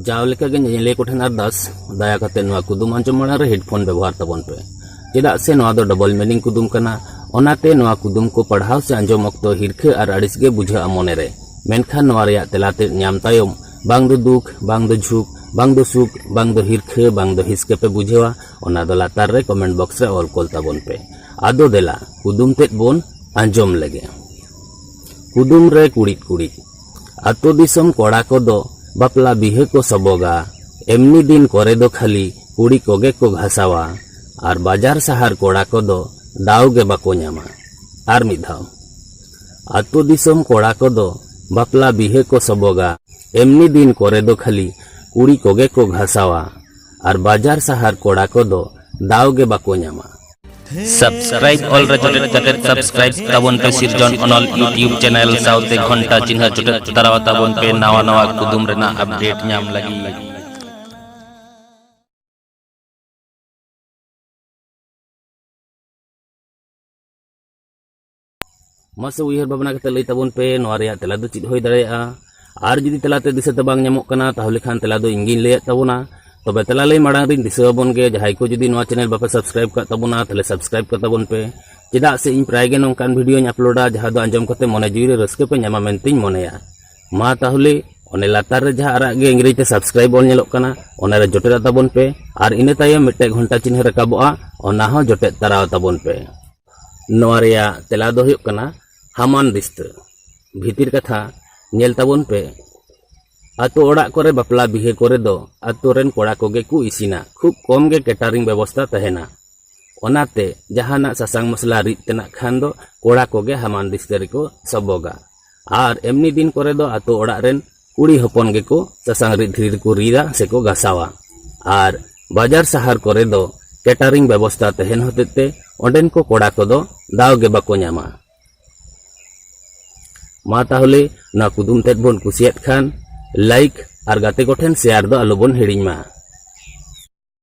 ᱡᱟᱣ ᱞᱮᱠᱟᱜᱮ ᱧᱮᱧᱮᱞᱤᱭᱟᱹ ᱠᱚᱴᱷᱮᱱ ᱟᱨᱫᱟᱥ ᱫᱟᱭᱟ ᱠᱟᱛᱮ ᱱᱚᱣᱟ ᱠᱩᱫᱩᱢ ᱟᱸᱡᱚᱢ ᱢᱟᱲᱟᱝ ᱨᱮ ᱦᱮᱰᱯᱷᱳᱱ ᱵᱮᱵᱚᱦᱟᱨ ᱛᱟᱵᱚᱱ ᱯᱮ ᱪᱮᱫᱟᱜ ᱥᱮ ᱱᱚᱣᱟ ᱫᱚ ᱰᱚᱵᱚᱞ ᱢᱤᱱᱤᱝ ᱠᱩᱫᱩᱢ ᱠᱟᱱᱟ ᱚᱱᱟᱛᱮ ᱱᱚᱣᱟ ᱠᱩᱫᱩᱢ ᱠᱚ ᱯᱟᱲᱦᱟᱣ ᱥᱮ ᱟᱸᱡᱚᱢ ᱚᱠᱛᱚ ᱦᱤᱨᱠᱷᱟᱹ ᱟᱨ ᱟᱹᱲᱤᱥ ᱜᱮ ᱵᱩᱡᱷᱟᱹᱜᱼᱟ ᱢᱚᱱᱮ ᱨᱮ ᱢᱮᱱᱠᱷᱟᱱ ᱱᱚᱣᱟ ᱨᱮᱭᱟᱜ ᱛᱮᱞᱟ ᱛᱮᱫ ᱧᱟᱢ ᱛᱟᱭᱚᱢ ᱵᱟᱝ ᱫᱚ ᱫᱩᱠ ᱵᱟᱝ ᱫᱚ ᱡᱷᱩᱠ ᱵᱟᱝ ᱫᱚ ᱥᱩᱠ ᱵᱟᱝ ᱫᱚ ᱦᱤᱨᱠᱷᱟᱹ ᱵᱟᱝ ᱫᱚ ᱦᱤᱥᱠᱟᱹ ᱯᱮ ᱵᱩᱡᱷᱟᱹᱣᱟ ᱚᱱᱟ ᱫᱚ ᱞᱟᱛᱟᱨ ᱨᱮ ᱠᱚᱢᱮᱱᱴ ᱵᱚᱠᱥ ᱨᱮ ᱚᱞ ᱠᱚᱞ ᱛᱟᱵᱚᱱ ᱯᱮ ᱟᱫᱚ ᱫᱮᱞᱟ ᱠᱩᱫᱩᱢ ᱛᱮᱫ ᱵᱚᱱ ᱟᱸᱡᱚᱢ ᱞᱮᱜᱮ ᱠᱩᱫᱩᱢ ᱨᱮ ᱠᱩᱲᱤᱫ ᱠᱩᱲᱤᱫ ᱟᱛᱳ ᱫᱤᱥᱚᱢ ᱠᱚᱲᱟ ᱠᱚ ᱫᱚ ᱵᱟᱯᱞᱟ ᱵᱤᱦᱟᱹ ᱠᱚ ᱥᱚᱵᱚᱜᱟ᱾ ᱮᱢᱱᱤ ᱫᱤᱱ ᱠᱚᱨᱮ ᱫᱚ ᱠᱷᱟᱹᱞᱤ ᱠᱩᱲᱤ ᱠᱚᱜᱮ ᱠᱚ ᱜᱷᱟᱥᱟᱣᱟ᱾ ᱟᱨ ᱵᱟᱡᱟᱨ ᱥᱟᱦᱟᱨ ᱠᱚᱲᱟ ᱠᱚ ᱫᱚ ᱫᱟᱣ ᱜᱮ ᱵᱟᱠᱚ ᱧᱟᱢᱟ᱾ ᱟᱨ ᱢᱤᱫ ᱫᱷᱟᱣ᱾ ᱟᱛᱳ ᱫᱤᱥᱚᱢ ᱠᱚᱲᱟ ᱠᱚ ᱫᱚ ᱵᱟᱯᱞᱟ ᱵᱤᱦᱟᱹ ᱠᱚ ᱥᱚᱵᱚᱜᱟ᱾ ᱮᱢᱱᱤ ᱫᱤᱱ ᱠᱚᱨᱮ ᱫᱚ ᱠᱷᱟᱹᱞᱤ ᱠᱩᱲᱤ ᱠᱚᱜᱮ ᱠᱚ ᱜᱷᱟᱥᱟᱣᱟ᱾ ᱟᱨ ᱵᱟᱡᱟᱨ ᱥᱟᱦᱟᱨ ᱠᱚᱲᱟ ᱠᱚ ᱫᱚ ᱫᱟᱣ ᱜᱮ ᱵᱟᱠᱚ ᱧᱟᱢᱟ᱾ ᱥᱟᱵᱥᱠᱨᱟᱭᱤᱵ ᱚᱞ ᱨᱮ ᱡᱚᱴᱮᱫ ᱠᱟᱛᱮ ᱥᱟᱵᱥᱠᱨᱟᱭᱤᱵ ᱛᱟᱵᱚᱱ ᱯᱮ ᱥᱤᱨᱡᱚᱱ ᱚᱱᱚᱞ ᱭᱩᱴᱤᱭᱩᱵ ᱪᱮᱱᱮᱞ ᱥᱟᱶᱛᱮ ᱜᱷᱚᱱᱴᱟ ᱪᱤᱱᱦᱟᱹ ᱡᱚᱴᱮᱫ ᱛᱟᱨᱟᱣ ᱛᱟᱵᱚᱱ ᱯᱮ ᱱᱟᱣᱟ ᱱᱟᱣᱟ ᱠᱩᱫᱩᱢ ᱨᱮᱱᱟᱜ ᱟᱯᱰᱮᱴ ᱧᱟᱢ ᱞᱟᱹᱜᱤᱫ ᱢᱟᱥᱮ ᱩᱭᱦᱟᱹᱨ ᱵᱷᱟᱵᱽᱱᱟ ᱠᱟᱛᱮ ᱞᱟᱹᱭ ᱛᱟᱵᱚᱱ ᱯᱮ ᱱᱚᱣᱟ ᱨᱮᱭᱟᱜ ᱛᱮᱞᱟ ᱫᱚ ᱪᱮᱫ ᱦᱩᱭ ᱫᱟᱲᱮᱭᱟᱜᱼᱟ ᱟᱨ ᱡᱩᱫᱤ ᱛᱮᱞᱟᱛᱮ ᱫᱤᱥᱟᱹ ᱛᱮ ᱵᱟᱝ ᱧᱟᱢᱚᱜ ᱠᱟᱱᱟ ᱛᱟᱦᱚᱞᱮ ᱠᱷᱟᱱ ᱛᱮᱞᱟ ᱫᱚ ᱤᱧ ᱜᱤᱧ ᱞᱟᱹᱭᱟᱫ ᱛᱟᱵᱚᱱᱟ ᱛᱚᱵᱮ ᱛᱮᱞᱟ ᱞᱟᱹᱭ ᱢᱟᱲᱟᱝ ᱨᱤᱧ ᱫᱤᱥᱟᱹ ᱟᱵᱚᱱ ᱜᱮ ᱡᱟᱦᱟᱸᱭ ᱠᱚ ᱡᱩᱫᱤ ᱱᱚᱣᱟ ᱪᱮᱱᱮᱞ ᱵᱟᱯᱮ ᱥᱟᱵᱥᱠᱨᱟᱭᱤᱵ ᱠᱟᱜ ᱛᱟᱵᱚᱱᱟ ᱛᱟᱦᱚᱞᱮ ᱥᱟᱵᱥᱠᱨᱟᱭᱤᱵ ᱠᱟᱜ ᱛᱟᱵᱚᱱ ᱯᱮ ᱪᱮᱫᱟᱜ ᱥᱮ ᱤᱧ ᱯᱨᱟᱭ ᱜᱮ ᱱᱚᱝᱠᱟᱱ ᱵᱷᱤᱰᱤᱭᱳᱧ ᱟᱯᱞᱳᱰᱟ ᱡᱟᱦᱟᱸ ᱫᱚ ᱟᱸᱡᱚᱢ ᱠᱟᱛᱮ ᱢᱚᱱᱮ ᱡᱤᱣᱤ ᱨᱮ ᱨᱟᱹᱥᱠᱟᱹ ᱯᱮ ᱧᱟᱢᱟ ᱢᱮᱱᱛᱮᱧ ᱢᱚᱱᱮᱭᱟ ᱢᱟ ᱛᱟᱦᱚᱞᱮ ᱚᱱᱮ ᱞᱟᱛᱟᱨ ᱨᱮ ᱡᱟᱦᱟᱸ ᱟᱨᱟᱜ ᱜᱮ ᱤᱝᱨᱮᱡᱤ ᱛᱮ ᱥᱟᱵᱥᱠᱨᱟᱭᱤᱵ ᱚᱞ ᱧᱮᱞᱚᱜ ᱠᱟᱱᱟ ᱚᱱᱟ ᱨᱮ ᱡᱚᱴᱮᱫ ᱛᱟᱵᱚᱱ ᱯᱮ ᱟᱨ ᱤᱱᱟᱹ ᱛᱟᱭᱚᱢ ᱢᱤᱫᱴᱮᱡ ᱜᱷᱚᱱᱴᱟ ᱪᱤᱱᱦᱟᱹ ᱨᱟᱠᱟᱵᱚᱜᱼᱟ ᱚᱱᱟ ᱦᱚᱸ ᱡᱚᱴᱮᱫ ᱛᱟᱨᱟᱣ ᱛᱟᱵᱚᱱ ᱯᱮ ᱱᱚᱣᱟ ᱨᱮᱭᱟᱜ ᱛᱮᱞᱟ ᱫᱚ ᱦᱩᱭᱩᱜ ᱠᱟᱱᱟ ᱦᱟᱢᱟᱱ ᱵᱤᱥᱛᱟᱹ ᱵᱷᱤᱛᱤᱨ ᱠᱟᱛᱷᱟ ᱧᱮᱞ ᱛᱟᱵᱚᱱ ᱯᱮ ᱟᱛᱳ ᱚᱲᱟᱜ ᱠᱚᱨᱮ ᱵᱟᱯᱞᱟ ᱵᱤᱦᱟᱹ ᱠᱚᱨᱮ ᱫᱚ ᱟᱛᱳ ᱨᱮᱱ ᱠᱚᱲᱟ ᱠᱚᱜᱮ ᱠᱚ ᱤᱥᱤᱱᱟ ᱠᱷᱩᱵ ᱠᱚᱢ ᱜᱮ ᱠᱮᱴᱟᱨᱤᱝ ᱵᱮᱵᱚᱥᱛᱟ ᱛᱟᱦᱮᱱᱟ ᱚᱱᱟᱛᱮ ᱡᱟᱦᱟᱱᱟᱜ ᱥᱟᱥᱟᱝ ᱢᱚᱥᱞᱟ ᱨᱤᱫ ᱛᱮᱱᱟᱜ ᱠᱷᱟᱱ ᱫᱚ ᱠᱚᱲᱟ ᱠᱚᱜᱮ ᱦᱟᱢᱟᱱ ᱵᱤᱥᱛᱟᱹ ᱨᱮᱠᱚ ᱥᱚᱵᱚᱜᱟ ᱟᱨ ᱮᱢᱱᱤ ᱫᱤᱱ ᱠᱚᱨᱮ ᱫᱚ ᱟᱛᱳ ᱚᱲᱟᱜ ᱨᱮᱱ ᱠᱩᱲᱤ ᱦᱚᱯᱚᱱ ᱜᱮᱠᱚ ᱥᱟᱥᱟᱝ ᱨᱤᱫ ᱫᱷᱤᱨᱤ ᱨᱮᱠᱚ ᱨᱤᱫᱟ ᱥᱮᱠᱚ ᱜᱟᱥᱟᱣᱟ ᱟᱨ ᱵᱟᱡᱟᱨ ᱥᱟᱦᱟᱨ ᱠᱚᱨᱮ ᱫᱚ ᱠᱮᱴᱟᱨᱤᱝ ᱵᱮᱵᱚᱥᱛᱟ ᱛᱟᱦᱮᱱ ᱦᱚᱛᱮᱡ ᱛᱮ ᱚᱸᱰᱮᱱ ᱠᱚ ᱠᱚᱲᱟ ᱠᱚᱫᱚ ᱫᱟᱣ ᱜᱮ ᱵᱟᱠᱚ ᱧᱟᱢᱟ ᱢᱟ ᱛᱟᱦᱚᱞᱮ ᱱᱚᱣᱟ ᱠᱩᱫᱩᱢ ᱛᱮᱫ ᱵᱚᱱ ᱠᱩᱥᱤᱭᱟᱫ ᱠᱷᱟᱱ ᱞᱟᱭᱤᱠ ᱟᱨ ᱜᱟᱛᱮ ᱠᱚᱴᱷᱮᱱ ᱥᱮᱭᱟᱨ ᱫᱚ ᱟᱞᱚᱵᱚᱱ ᱦᱤᱲᱤᱧ ᱢᱟ